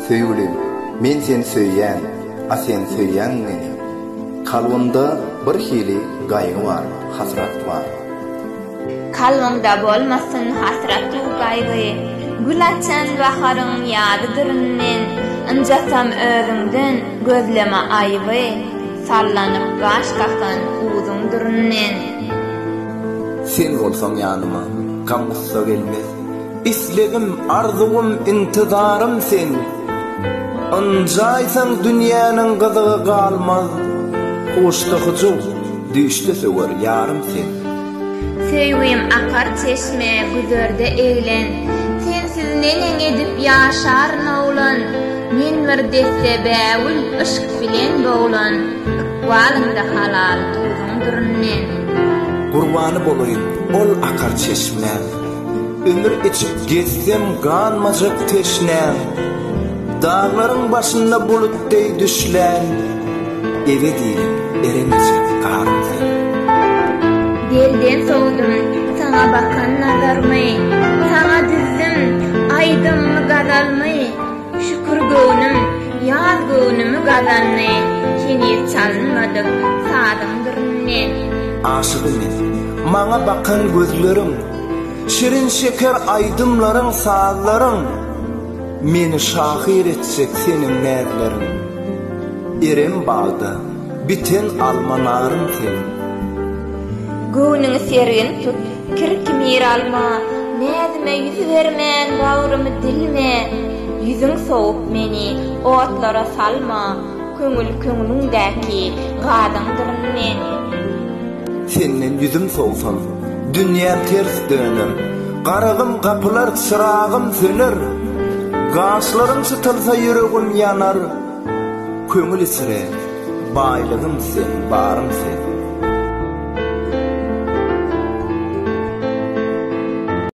Söýgülim, men seni söýýän, a sen söýýäňmi meni? Kalbymda bir hili gaýgy bar, hasrat bar. Kalbymda bolmasyn hasrat-u gaýgy, gül açan baharyň ýadydyryn men. Ynjasam özüňden, gözleme aýyby, sallanyp gaş kakan uzuňdyryn men. Sen bolsaň ýanyma, gam-gussa gelmez. Islegim, arzuwym, intizarym sen. Ynjaýsaň dünýäniň gyzygy galmaz, Huşda hyjuw, düýşde söwer ýarym sen. Söýgim akar çeşme, güzerde eglen, Sensiz neneň edip ýaşaryn oglan? Men bir desse bägül yşk bilen boglan, Ykbalymda halal duzuň düründen. Gurbany bolaýyn ol akar çeşmä. Ümür içip gezsem ganmajak teşnäm, Daglaryň başynda bulut deý düşlän, Ebedi eremejek garym sen. Belden sowdum saňa bakan nazarmy, Saňa düzdüm aýdymmy gazalmy, Şükür göwnüm, ýaz göwnümi gazandy, Heniz çalynmadyk sazyň dürüni. Aşygy men, maňa bakan gözleriň, Şirin şeker aýdymlaryň, sazlaryň, Meni şahyr etjek seniň näzleriň. Eren bagda biten alma-narym sen. Göwnüňi sergin tut. Kirki miralma, näzime ýüz bermän bagrymy dilme, Ýüzüň sowup meni otlara salma, Köňül köňlüňdäki gazyňdyr men. Senden ýüzüm sowsam, dünýäm ters döner, Garagym gapylar, çyragym söner, Gaşlarym çytylsa ýüregim ýanar. Köňül içre, baýlygym sen, barym sen.